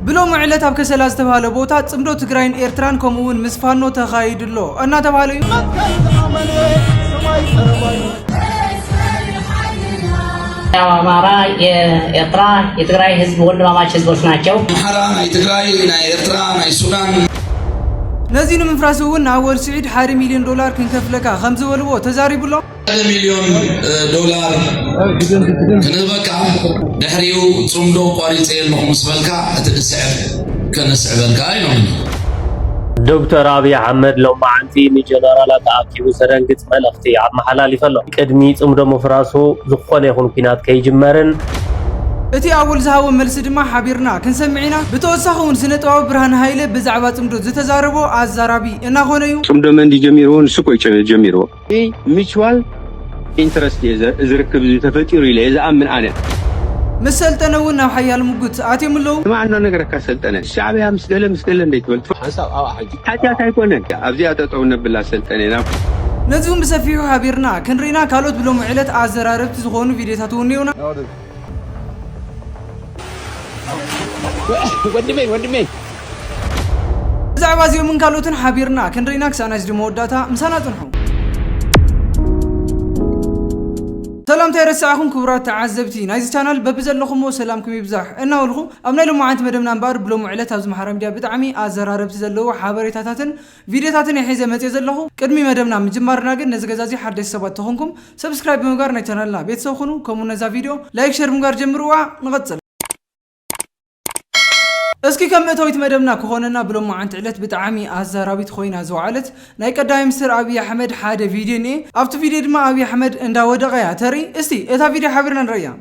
ብሎሚ ዕለት ኣብ ከሰላ ዝተብሃለ ቦታ ፅምዶ ትግራይን ኤርትራን ከምኡ እውን ምስ ፋኖ ተኻይዱ ኣሎ እናተብሃለ እዩ። መትከል ዝኣመነ ሰማይ ቀረባ እዩ። ያው አማራ የኤርትራ የትግራይ ህዝብ ወንድማማች ህዝቦች ናቸው። ኣምሓራ ናይ ትግራይ ናይ ኤርትራ ናይ ሱዳን ነዚ ንምፍራስ እውን ንኣወል ስዒድ ሓደ ሚልዮን ዶላር ክንከፍለካ ከም ዝበልዎ ተዛሪቡ ኣሎ። ሓደ ሚልዮን ዶላር ክንህበካ ድሕሪኡ ፅምዶ ቋሪፀ ኣለኹ ምስ በልካ እቲ ድስዕብ ከነስዕበልካ ኢሎምኒ። ዶክተር ኣብይ ኣሕመድ ሎም መዓልቲ ንጀነራላት ኣኣኪቡ ዘደንግፅ መልእኽቲ ኣመሓላሊፈ ኣሎ። ቅድሚ ፅምዶ ምፍራሱ ዝኾነ ይኹን ኲናት ከይጅመርን፣ እቲ ኣወል ዝሃቦ መልሲ ድማ ሓቢርና ክንሰምዕ ኢና። ብተወሳኺ እውን ስነጥበባዊ ብርሃነ ሃይለ ብዛዕባ ፅምዶ ዝተዛረቦ ኣዛራቢ እናኾነ እዩ። ፅምዶ መን ድዩ ጀሚርዎ ንሱ እኮ እዩ ጀሚርዎ። ብሚችዋል ኢንተረስት እየ እዚ ርክብ እዚ ተፈጢሩ ኢለ እየ ዝኣምን ኣነ። ምስ ሰልጠነ እውን ናብ ሓያል ሙጉት ኣትዮም ኣለው። ስማዕ እንዶ ነገረካ ሰልጠነ ሻዕብያ ምስ ገለ ምስ ገለ እንድይ ትበል ሓንሳብ ኣብኣ ሕጂ ሓጥያት ኣይኮነን ኣብዚኣ ጠጠው ነብላ ሰልጠነ ናብ። ነዚ እውን ብሰፊሑ ሓቢርና ክንርኢና ካልኦት ብሎሚ ዕለት ኣዘራረብቲ ዝኾኑ ቪድዮታት እውን እኒኦውና። ወንድሜ ወንድሜ ብዛዕባ እዚኦምን ካልኦትን ሓቢርና ክንርኢና ክሳዕ ናይ ስዲ መወዳእታ ምሳና ጽንሑ ሰላምታይ ረስዓኹም ክቡራት ተዓዘብቲ ናይዚ ቻናል በቢ ዘለኹሞ ሰላምኩም ይብዛሕ እናበልኹ ኣብ ናይ ሎማዓንቲ መደብና እምበኣር ብሎሚ ዕለት ኣብ ዝመሓራ ሚድያ ብጣዕሚ ኣዘራረብቲ ዘለዎ ሓበሬታታትን ቪድዮታትን እየ ሒዘ መፅየ ዘለኹ። ቅድሚ መደብና ምጅማርና ግን ነዚ ገዛ እዙይ ሓደሽቲ ሰባት ተኾንኩም ሰብስክራይብ ብምግባር ናይ ቻናልና ቤተሰብ ኹኑ ከምኡ ውን ነዛ ቪድዮ ላይክ ሸር ብምግባር ጀምርዋ ንቐፅል። እስኪ ከም መእተዊት መደብና ክኾነና ብሎማዓንቲ ዕለት ብጣዓሚ ኣዛራቢት ኾይና ዝወዓለት ናይ ቀዳማይ ምንስትር ኣብይ ኣሕመድ ሓደ ቪድዮ እኒኤ ኣብቲ ቪድዮ ድማ ኣብይ ኣሕመድ እንዳወደቐ እያ ተርኢ እስቲ እታ ቪድዮ ሓቢርና ንርእያ።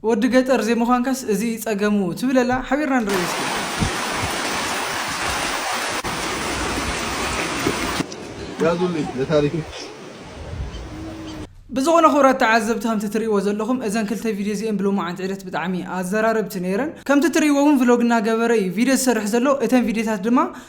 ወዲ ገጠር ዘይምዃንካስ እዚ እዩ ጸገሙ ትብለላ ሓቢርና ንርእዮ እስኪ። ያዙልኝ ለታሪክክ። ብዝኾነ ክቡራት ተዓዘብቲ ከምቲ ትርእይዎ ዘለኹም እዘን ክልተ ቪድዮ እዚኤን ብሎማዓንቲ ዕለት ብጣዕሚ ኣዘራረብቲ ነይረን ከምቲ ትርእይዎ እውን ቭሎግ እናገበረ እዩ ቪድዮ ዝሰርሕ ዘሎ እተን ቪድዮታት ድማ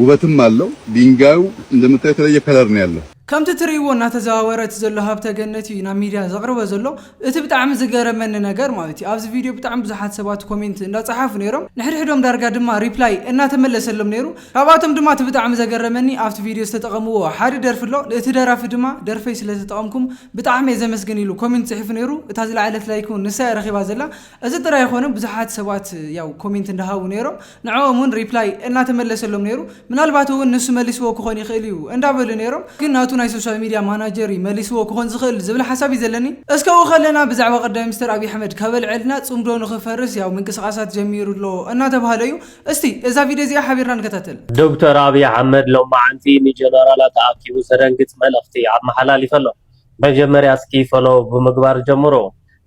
ውበትም ኣለው ዲንጋዩ እንደምታዩ የተለየ ከለር ነው ያለው። ከምቲ ትርእይዎ እናተዘዋወረ እቲ ዘሎ ሃብተ ገነት እዩ ናብ ሚድያ ዘቅርቦ ዘሎ እቲ ብጣዕሚ ዝገረመኒ ነገር ማለት እዩ ኣብዚ ቪድዮ ብጣዕሚ ብዙሓት ሰባት ኮሜንት እንዳጸሓፉ ኔሮም ንሕድሕዶም ዳርጋ ድማ ሪፕላይ እናተመለሰሎም ኔሩ ካብኣቶም ድማ እቲ ብጣዕሚ ዘገረመኒ ኣብቲ ቪድዮ ዝተጠቀምዎ ሓደ ደርፊ ኣሎ እቲ ደራፊ ድማ ደርፈይ ስለተጠቀምኩም ብጣዕሚ እየ ዘመስግን ኢሉ ኮሜንት ጽሒፉ ኔሩ እታ ዝለዓለት ላይክ ውን ንሳ እያ ረኪባ ዘላ እዚ ጥራይ ኣይኮነን ብዙሓት ሰባት ያው ኮሜንት እንዳሃቡ ነይሮም ንዕኦም ውን ሪፕላይ እናተመለሰሎም ነይሩ ምናልባት ውን ንሱ መሊስዎ ክኾን ይኽእል እዩ እንዳበሉ ነይሮም ግን ናቱ ናይ ሶሻል ሚድያ ማናጀር እዩ መሊስዎ ክኾን ዝኽእል ዝብል ሓሳብ እዩ ዘለኒ እስከ ኣብኡ ከለና ብዛዕባ ቀዳማይ ሚኒስተር ኣብይ ኣሕመድ ከበልዐልና ጽምዶ ንኽፈርስ ያው ምንቅስቓሳት ጀሚሩ ኣሎ እናተባህለ እዩ እስቲ እዛ ቪድዮ እዚኣ ሓቢርና ንከታተል። ዶክተር ኣብይ ኣሕመድ ሎማዕንቲ ንጀነራላት ኣኣኪቡ ዘደንግፅ መልእኽቲ ኣመሓላሊፈሎም። መጀመርያ እስኪ ፎሎው ብምግባር ጀምሩ።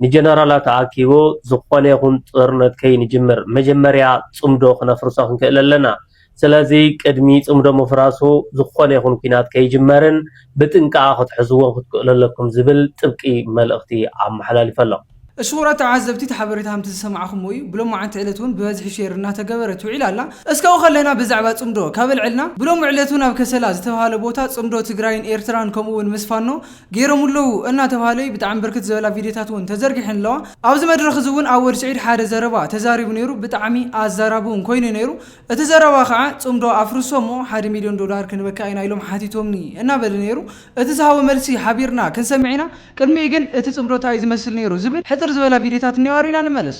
ንጀነራላት ኣኣኪቡ ዝኾነ ይኹን ጦርነት ከይንጅምር መጀመርያ ጽምዶ ክነፍርሶ ክንክእል ኣለና። ስለዚ ቅድሚ ጽምዶ ምፍራሱ ዝኾነ ይኹን ኲናት ከይጅመርን ብጥንቃቐ ክትሕዝዎን ክትክእሉ ኣለኩም ዝብል ጥብቂ መልእኽቲ ኣመሓላሊፉ ኣሎ። እሽኹራት ተዓዘብቲ እቲ ሓበሬታ ከምቲ ዝሰማዕኹምዎ እዩ። ብሎማዕንቲ ዕለት እውን ብበዝሒ ሼር እናተገበረት ውዒላ ኣላ። እስካው ከለና ብዛዕባ ጽምዶ ካብ ኣልዐልና፣ ብሎሚ ዕለት እውን ኣብ ከሰላ ዝተብሃለ ቦታ ጽምዶ ትግራይን ኤርትራን ከምኡ እውን ምስ ፋኖ፣ ገይሮም'ለዉ እናተብሃለ'ዩ፣ ብጣዕሚ ብርክት ዝበላ ቪድዮታት'ውን ተዘርጊሐን ኣለዋ። ኣብዚ መድረኽ እዚ'ውን ኣወል ስዒድ ሓደ ዘረባ ተዛሪቡ ነይሩ፣ ብጣዕሚ ኣዛራቢ'ውን ኮይኑ'ዩ ነይሩ፣ እቲ ዘረባ ከዓ ፅምዶ ኣፍርሶ'ሞ ሓደ ሚልዮን ዶላር ክንበካ ኢና ኢሎም ሓቲቶምኒ እናበለ ነይሩ፣ እቲ ዝሃቦ መልሲ ሓቢርና ክንሰምዕ ኢና፣ ቅድሚኡ ግን እቲ ፅምዶ ታይ እዩ ዝመስል ነይሩ ዝብል ሕፅር ዝበላ ቪድዮታት እኒኦኦ ሪኢና ንመለስ።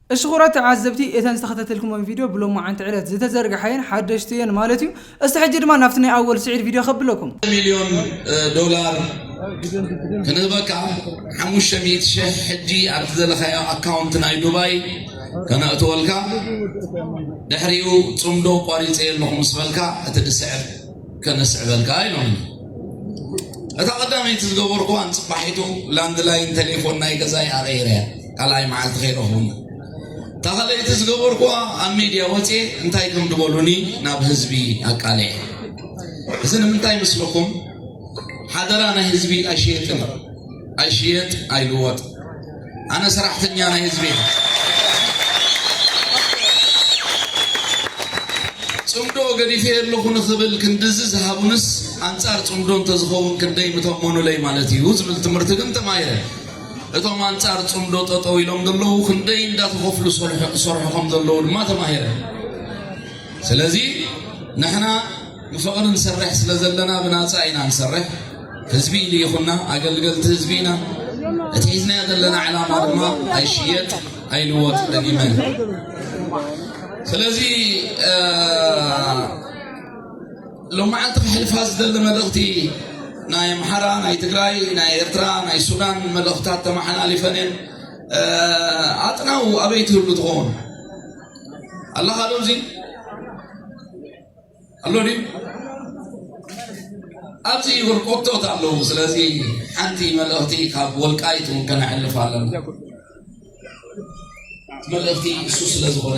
እሺ ኩራት ተዓዘብቲ እተን ዝተኸታተልክሞን ቪድዮ ብሎማዓንቲ ዕለት ዝተዘርግሓየን ሓደሽቲ እየን ማለት እዩ እስቲ ሕጂ ድማ ናብቲ ናይ ኣወል ስዒድ ቪድዮ ከብለኩም። ሚልዮን ዶላር ክንህበካ ሓሙሽተ ሚእቲ ሽሕ ሕጂ ኣብቲ ዘለኻዮ ኣካውንት ናይ ዱባይ ከነእትወልካ ድሕሪኡ ጽምዶ ቋሪጸዮ ኣለኹ ምስ በልካ እቲ ድስዕብ ከነስዕበልካ ኢሎምኒ እታ ቀዳመይቲ ዝገበርኩዋ ንፅባሒቱ ላንድ ላይን ቴሌፎን ናይ ገዛይ ኣቐይረያ ካልኣይ መዓልቲ ከይረኽቡና እታ ካልኣይቲ ዝገበርኩዋ ኣብ ሚድያ ወፅኤ እንታይ ከም ድበሉኒ ናብ ህዝቢ ኣቃልዐ እዚ ንምንታይ ምስልኩም ሓደራ ናይ ህዝቢ ኣይሸየጥን ኣይሽየጥ ኣይልወጥ ኣነ ሰራሕተኛ ናይ ህዝቢ እየ። ፅምዶ ገዲፈ ኣለኹ ንኽብል ክንድዚ ዝሃቡንስ ኣንፃር ፅምዶ እንተዝኸውን ክንደይ ምተመኑለይ ማለት እዩ ዝብል ትምህርቲ ግን ተማሂረ። እቶም ኣንፃር ፅምዶ ጠጠው ኢሎም ዘለዉ ክንደይ እንዳተኸፍሉ ዝሰርሑ ከም ዘለዉ ድማ ተማሂረ ስለዚ ንሕና ብፍቅሪ ንሰርሕ ስለ ዘለና ብናጻ ኢና ንሰርሕ ህዝቢ ይኹና ኣገልገልቲ ህዝቢ ኢና እቲ ሒዝናዮ ዘለና ዕላማ ድማ ኣይሽየጥ ኣይልወጥ ደጊመ ስለዚ ሎማዓንቲ ክሕልፋ ዝደሊ መልእኽቲ ናይ ኣምሓራ ናይ ትግራይ ናይ ኤርትራ ናይ ሱዳን መልእኽታት ተመሓላሊፈን እየን ኣጥናው ኣበይ ትህሉ ትኸውን ኣለኻዶ እዚ ኣሎ ድዩ ኣብዚ ህርኮቶት ኣለዉ ስለዚ ሓንቲ መልእኽቲ ካብ ወልቃይት እውን ከነሕልፍ ኣለና መልእኽቲ እሱ ስለ ዝኾነ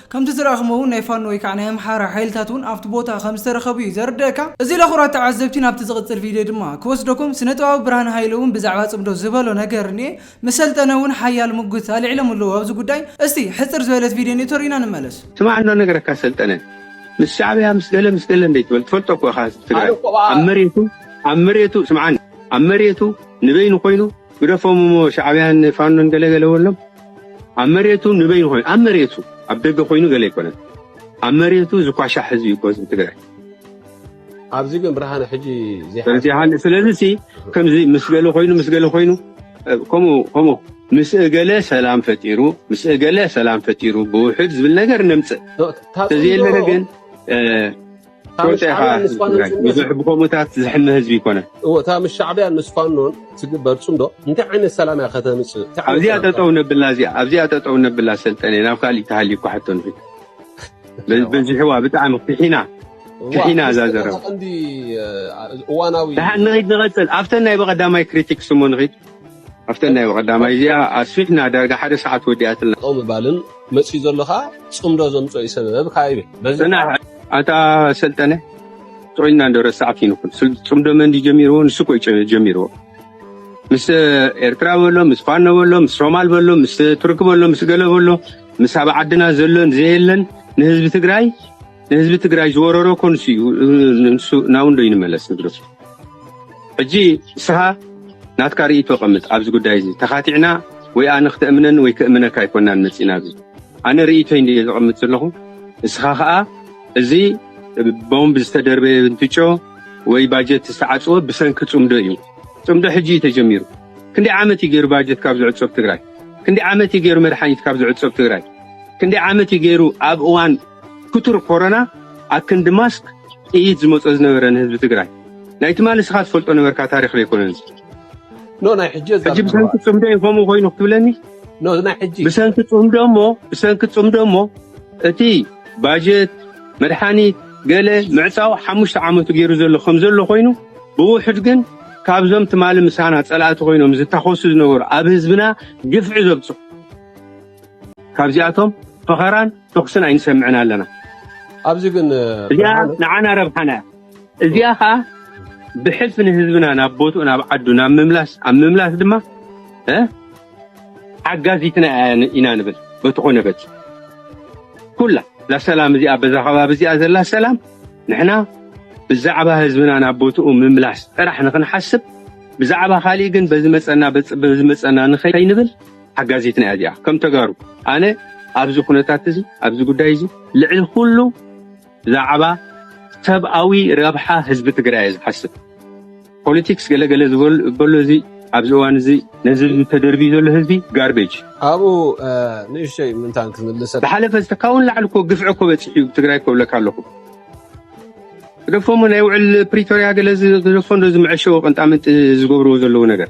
ከምቲ ዝረኣኽሞ እውን ናይ ፋኖ ወይካዓ ናይ ኣምሓራ ሓይልታት እውን ኣብቲ ቦታ ከምዝተረኸቡ እዩ ዘርደእካ። እዚ ለኹራት ተዓዘብቲ ናብቲ ዝቕጽል ቪድዮ ድማ ክወስደኩም ስነጥበባዊ ብርሃነ ሃይለ እውን ብዛዕባ ጽምዶ ዝበሎ ነገር እኒኤ ምስ ሰልጠነ እውን ሓያል ሙግት ኣልዒሎም ኣለዉ ኣብዚ ጉዳይ እስቲ ሕጽር ዝበለት ቪድዮ እኒኤቶ ርኢና ንመለስ። ስማዕ እንዶ ነገረካ ሰልጠነ ምስ ሻዕብያ ምስ ገለ ምስ ገለ እንደ ትበል ትፈልጦ እኮ ኢኻ ህዝቢ ትግራይ ኣብ መሬቱ ኣብ መሬቱ ስምዓኒ ኣብ መሬቱ ንበይኑ ኮይኑ ግደፎም እሞ ሻዕብያን ፋኖን ገለ ገለ በሎም ኣብ መሬቱ ንበይኑ ኮይኑ ኣብ መሬቱ ኣብ ደገ ኮይኑ ገለ ኣይኮነን ኣብ መሬቱ ዝኳሻ ሕዝቢ እዩ ህዝቢ ትግራይ ኣብዚ ግን ብርሃነ ሕጂ ስለዚ ከምዚ ምስ ገለ ኮይኑ ምስ ገለ ኮይኑ ከምኡ ከምኡ ምስ እገለ ሰላም ፈጢሩ ምስ እገለ ሰላም ፈጢሩ ብውሕድ ዝብል ነገር ነምፅእ ተዘየለነ ግን ትፈልጦ ኢኻ ብዙሕ ብከምኡታት ዝሕመ ህዝቢ ይኮነ እዎ እታ ምስ ሻዕብያን ምስ ፋኖን ትግበር ፅምዶ እንታይ ዓይነት ሰላም እያ ከተምፅእ እንታይ ዓይነት ኣብዚኣ ሰላም እያ? ጠጠው ነብላ እዚኣ ኣብዚኣ ጠጠው ነብላ ሰልጠነ ናብ ካሊእ ተሃልዩ እኳ ሕቶ ንኺድ በ- በዚሕዋ ብጣዕሚ ፍሒና እዋ፣ ፍሒና እዛ ምስቲ ዘረባ ቀንዲ እ፣ እዋናዊ ድሓን ንኺድ ንቐፅል ኣብተን ናይ በቐዳማይ ክሪቲክስ እሞ ንኺድ ኣብተን ናይ ቀዳማይ እዚኣ ኣስፊሕና ዳርጋ ሓደ ሰዓት ወዲኣትልና። ጠጠው ምባልን መፅዩ ዘሎ ከዓ ፅምዶ ዘምፅኦ እዩ ሰበብ ከዓ ይብል በዚ ፅናሕ ኣታ ሰልጠነ ጥዑይና እንዶ ረሳዕቲ ንኹን ስል- ፅምዶ መን ድዩ ጀሚርዎ ንሱ እኮ እዩ ጨ- ጀሚርዎ ምስ ኤርትራ በሎ ምስ ፋኖ በሎ ምስ ሶማል በሎ ምስ ቱርኪ በሎ ምስ ገለ በሎ ምስ ኣብ ዓድና ዘሎን ዘየለን ንህዝቢ ትግራይ ንህዝቢ ትግራይ ዝወረሮ እኮ ንሱ እዩ ንሱ ናውንዶ ይንመለስ ንግደሱ ሕጂ ንስኻ ናትካ ርእቶ ቀምጥ ኣብዚ ጉዳይ እዚ ተኻቲዕና ወይ ኣነ ክተእምነኒ ወይ ክእምነካ ኣይኮናን መፂና ኣብዚ ኣነ ርእቶይ እንድየ ዘቐምጥ ዘለኹ ንስኻ ከዓ እዚ ቦምብ ዝተደርበየ እንትጮ ወይ ባጀት ዝተዓፅወ ብሰንኪ ፅምዶ እዩ ፅምዶ ሕጂ እዩ ተጀሚሩ ክንደይ ዓመት እዩ ገይሩ ባጀት ካብ ዝዕፀብ ትግራይ ክንደይ ዓመት እዩ ገይሩ መድሓኒት ካብ ዝዕፀብ ትግራይ ክንደይ ዓመት እዩ ገይሩ ኣብ እዋን ክቱር ኮረና ኣብ ክንዲ ማስክ ጥይት ዝመጾ ዝነበረ ንህዝቢ ትግራይ ናይ ትማሊ ንስኻ ትፈልጦ ነበርካ ታሪኽ ዶ ኣይኮነን እዚ ኖ ናይ ሕጂ ሕጂ ብሰንኪ ጽምዶ እዩ ከምኡ ኮይኑ ክትብለኒ ኖ ናይ ሕጂ ብሰንኪ ጽምዶ እሞ ብሰንኪ ጽምዶ እሞ እቲ ባጀት መድሓኒት ገለ ምዕጻው ሓሙሽተ ዓመቱ ገይሩ ዘሎ ከም ዘሎ ኮይኑ ብውሕድ ግን ካብዞም ትማሊ ምሳና ጸላእቲ ኮይኖም ዝታኸሱ ዝነበሩ ኣብ ህዝብና ግፍዒ ዘብጽሑ ካብዚኣቶም ፈኸራን ተኹስን ኣይንሰምዕን ኣለና። ኣብዚ ግን እዚኣ ንዓና ረብሓና እያ። እዚኣ ከዓ ብሕልፊ ንህዝብና ናብ ቦትኡ ናብ ዓዱ ናብ ምምላስ ኣብ ምምላስ ድማ ሓጋዚትና ኢና ንብል በቲ ኮነ በቲ ኩላ ላሰላም እዚኣ በዛ ከባቢ እዚኣ ዘላ ሰላም ንሕና ብዛዕባ ህዝብና ናብ ቦትኡ ምምላስ ጥራሕ ንክንሓስብ ብዛዕባ ካሊእ ግን በዚ መፀና በዚ መፀና ንኸይንብል ሓጋዚትና እያ እዚኣ ከም ተጋሩ ኣነ ኣብዚ ኩነታት እዚ ኣብዚ ጉዳይ እዚ ልዕሊ ኩሉ ብዛዕባ ሰብኣዊ ረብሓ ህዝቢ ትግራይ እየ ዝሓስብ ፖለቲክስ ገለገለ ዝበሎ እዚ ኣብዚ እዋን እዚ ነዚ ተደርብዩ ዘሎ ህዝቢ ጋርቤጅ ኣብኡ ንእሽተይ ምንታን ክምልሰ ዝሓለፈ ዝተካውን ላዕሊ ኮ ግፍዒ ኮ በፂሑ ትግራይ ከብለካ ኣለኹ ደፎሞ ናይ ውዕል ፕሪቶሪያ ገለ ዝደፎ ዶ ዝምዐሸዎ ቅንጣምንጢ ዝገብርዎ ዘለዉ ነገር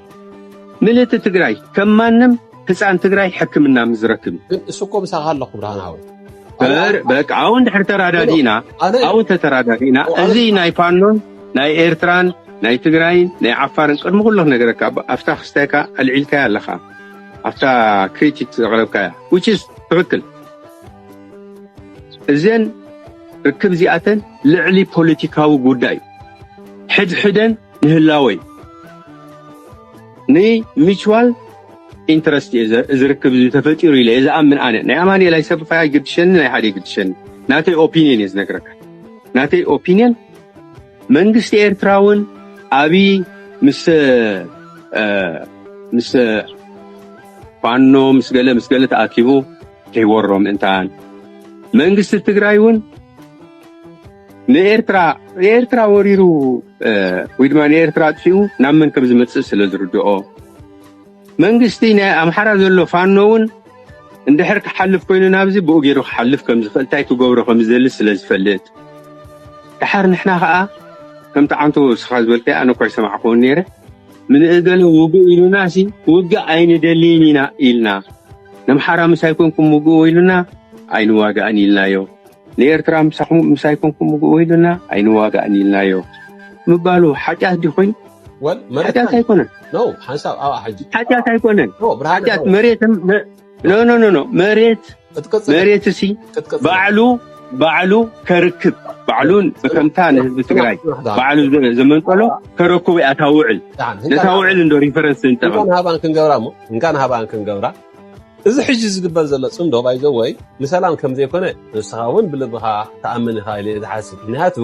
ምልእቲ ትግራይ ከም ማንም ህፃን ትግራይ ሕክምና ምዝረክብ እዩ ግን እሱ እኮ ምሳኻ ኣለኹ ብርሃናዊ በር በቃ አሁን ድሕር ተራዳዲእና ኣነ- ኣብኡ ተተራዳዲእና ኣነ- እዚ ናይ ፋኖን ናይ ኤርትራን ናይ ትግራይን ናይ ዓፋርን ቅድሚ ኩሎ ነገረካ ብ- ኣብታ ክስታይካ ኣልዒልካያ ኣለካ ኣብታ ክሪቲክ ዘቕረብካያ which is ትኽክል እዘን ርክብ እዚኣተን ልዕሊ ፖለቲካዊ ጉዳይ እዩ ሕድሕደን ንህላወይ ንሚችዋል ኢንተረስት እየ እዚ ርክብ እዚ ተፈጢሩ ኢለ እየ ዝኣምን ኣነ ናይ ኣማኒኤል ኣይሰብፋይ ኣይግድሸኒ ናይ ሓደ ይግድሸኒ ናተይ ኦፒኒየን እየ ዝነግረካ ናተይ ኦፒኒየን መንግስቲ ኤርትራ እውን ኣብዪ ምስ ምስ ፋኖ ምስ ገለ ምስ ገለ ተኣኪቡ ከይወሮም እንታን መንግስቲ ትግራይ እውን ንኤርትራ ንኤርትራ ወሪሩ ወይ ድማ ንኤርትራ ኣጥፊኡ ናብ መን ከም ዝመጽእ ስለ ዝርድኦ መንግስቲ ናይ ኣምሓራ ዘሎ ፋኖ እውን እንድሕር ክሓልፍ ኮይኑ ናብዚ ብኡ ገይሩ ክሓልፍ ከም ዝኽእል እንታይ ክገብሮ ከም ዝደሊ ስለ ዝፈልጥ ድሓር ንሕና ከዓ ከምቲ ዓንቶ ስኻ ዝበልከ ኣነ እኳ ይሰማዕክዎ ነይረ ምንእገለ ውግእ ኢሉና ሲ ውግእ ኣይንደልይን ኢና ኢልና ነምሓራ ምስ ኣይኮንኩም ውግእዎ ኢሉና ኣይንዋጋእን ኢልናዮ ንኤርትራ ምሳኹም ምስ ኣይኮንኩም ውግእዎ ኢሉና ኣይንዋጋእን ኢልናዮ ምባሉ ሓጢኣት ድዩ ኮይኑ? ሓጢኣት ኣይኮነን። ሓጢኣት ኣይኮነን። ሓጢኣት መሬት ኖኖኖ መሬት መሬት እሲ ባዕሉ ባዕሉ ከርክብ ባዕሉ ከምታ ንህዝቢ ትግራይ ባዕሉ ዘመንጠሎ ከረክቡ እያ እታ ውዕል ነታ ውዕል እንዶ ሪፈረንስ ንጠቐም እንካን ሃባን ክንገብራ እሞ እንካን ሃባን ክንገብራ እዚ ሕጂ ዝግበር ዘሎ ጽምዶ ባይዘወይ ንሰላም ከም ዘይኮነ ንስኻ እውን ብልብኻ ትኣምን ኢኻ ኢለ ዝሓስብ ምክንያቱ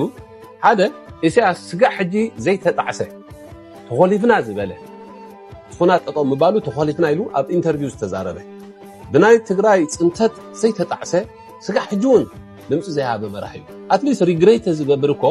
ሓደ ኢሳያስ ስጋዕ ሕጂ ዘይተጣዕሰ ተኾሊፍና ዝበለ ኹናት ጠጠው ምባሉ ተኾሊፍና ኢሉ ኣብ ኢንተርቪው ዝተዛረበ ብናይ ትግራይ ፅንተት ዘይተጣዕሰ ስጋ ሕጂ እውን ድምፂ ዘይሃበ መራሕ እዩ ኣትሊስት ሪግሬት ዝገብር እኮ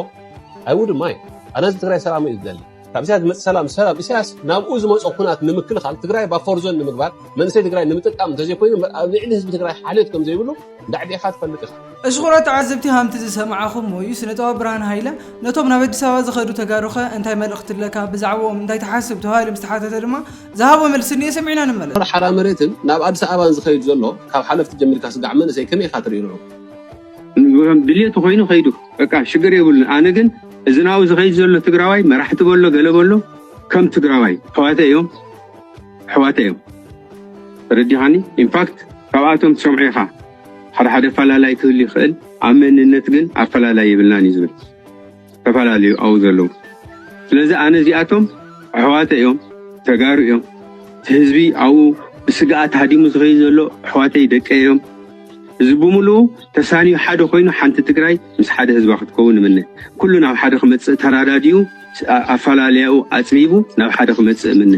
ኣይውድማ እዩ ኣነ እዚ ትግራይ ሰላሙ እዩ ዝደሊ ካብ ኢሳያስ ዝመፅእ ሰላም ሰላም ኢሳያስ ናብኡ ዝመፆ ኩናት ንምክልኻል ትግራይ ባፎርዞን ንምግባር መንእሰይ ትግራይ ንምጥቃም እንተዘይኮይኑ ኣብ ልዕሊ ህዝቢ ትግራይ ሓልዮት ከም ዘይብሉ ዳዕቢ ኢኻ ትፈልጥ ኢኻ እሽቑሮ ተዓዘብቲ ሃምቲ ዝሰማዓኹሞ እዩ ስነጥበባ ብርሃን ሃይለ ነቶም ናብ ኣዲስ ኣበባ ዝኸዱ ተጋሩኸ እንታይ መልእኽቲ ኣለካ ብዛዕብኦም እንታይ ትሓስብ ተባሂሉ ምስ ተሓተተ ድማ ዝሃቦ መልሲ እንኤ ሰሚዕና ንመለስ። ሓራ መሬትን ናብ ኣዲስ ኣበባን ዝኸይድ ዘሎ ካብ ሓለፍቲ ጀሚርካ ስጋዕ መንእሰይ ከመይ ኢኻ ትርኢ ንዑ? ድልየቱ ኮይኑ ከይዱ በቃ ሽግር የብሉን ኣነ ግን እዚ ናብኡ ዝኸይድ ዘሎ ትግራዋይ መራሕቲ በሎ ገለ በሎ ከም ትግራዋይ ኣሕዋተ እዮም ኣሕዋተ እዮም ተረዲኻኒ ኢንፋክት ካብኣቶም ትሰምዑ ኢኻ ሓደ ሓደ ኣፈላላይ ክህሉ ይኽእል ኣብ መንነት ግን ኣፈላላይ የብልናን እዩ ዝብል ተፈላለዩ ኣዉ ዘለዉ ስለዚ ኣነ እዚኣቶም ኣሕዋተ እዮም ተጋሩ እዮም እቲ ህዝቢ ኣብኡ ብስግኣት ሃዲሙ ዝኸይድ ዘሎ ኣሕዋተይ ደቀይ እዮም እዚ ብምሉኡ ተሳንዩ ሓደ ኮይኑ ሓንቲ ትግራይ ምስ ሓደ ህዝባ ክትከውን እምነ ኩሉ ናብ ሓደ ክመፅእ ተራዳዲኡ ኣፈላለያኡ ኣፅቢቡ ናብ ሓደ ክመፅእ እምነ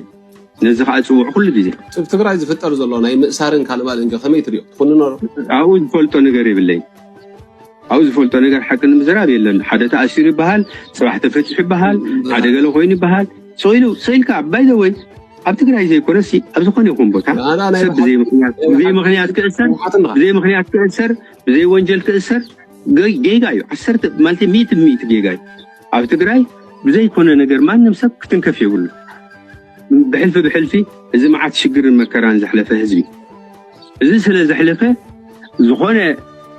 ነዚ ከዓ ፅውዕ ኩሉ ግዜ ትግራይ ዝፍጠር ዘሎ ናይ ምእሳርን ካልባልን ከመይ ትሪኦ ትኹንኖ ኣብኡ ዝፈልጦ ነገር የብለይ ኣብኡ ዝፈልጦ ነገር ሓቂ ንምዝራብ የለን ሓደ ተኣሲሩ ይበሃል ፅባሕ ተፈትሑ ይበሃል ሓደ ገለ ኮይኑ ይበሃል ስኢሉ ስኢልካ ባይዘወይ ኣብ ትግራይ ዘይኮነሲ ኣብ ዝኾነ ይኹን ቦታ ሰብ ብዘይ ምክንያት ብዘይ ምክንያት ክእሰር ብዘይ ምክንያት ክእሰር ብዘይ ወንጀል ክእሰር ጌጋ እዩ ዓሰርተ ማለት ሚእቲ ሚእቲ ጌጋ እዩ ኣብ ትግራይ ብዘይኮነ ነገር ማንም ሰብ ክትንከፍ የብሉ ብሕልፊ ብሕልፊ እዚ መዓት ሽግርን መከራን ዘሕለፈ ህዝቢ እዚ ስለ ዘሕለፈ ዝኾነ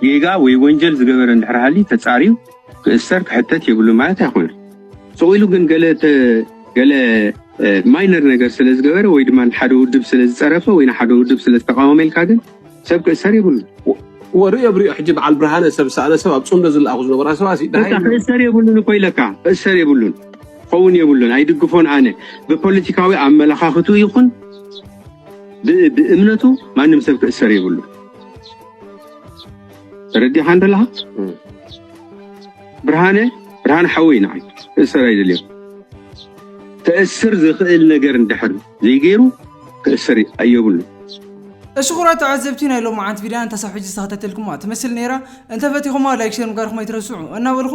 ጌጋ ወይ ወንጀል ዝገበረ እንድሕር ሃልዩ ተጻርዩ ክእሰር ክሕተት የብሉን ማለት ኣይኮነን። ስቕ ኢሉ ግን ገለ ተ ገለ ማይነር ነገር ስለ ዝገበረ ወይ ድማ ንሓደ ውድብ ስለ ዝጸረፈ ወይ ንሓደ ውድብ ስለ ዝተቃወመ ኢልካ ግን ሰብ ክእሰር የብሉን። ወርእዮ ብርእዮ ሕጂ በዓል ብርሃነ ሰብ ዝሰኣነ ሰብ ኣብ ጽምዶ ዝለኣኹ ዝነበራ ሰባት እዩ በቃ ደሃይ ክእሰር የብሉን እኮ ኢለካ ክእሰር የብሉን ክኸውን የብሉን ኣይድግፎን ኣነ ብፖለቲካዊ ኣመለኻኽትኡ ይኹን ብ ብእምነቱ ማንም ሰብ ክእሰር የብሉን ተረዲኻ እንተለኻ ብርሃነ ብርሃነ ሓወይ ንዓይ ክእሰር ኣይደልዮን ተእስር ዝኽእል ነገር እንድሕር ዘይገይሩ ክእሰር ኣየብሉን። እሺ ኩራት ተዓዘብቲ ናይ ሎምዓንቲ ቪድያ እንተሳብ ሕጂ ዝተኸታተልኩማ ትመስል ነይራ እንተፈቲኹማ ላይክ ሼር ምግባርኩም ኣይትረስዑ እናበልኹ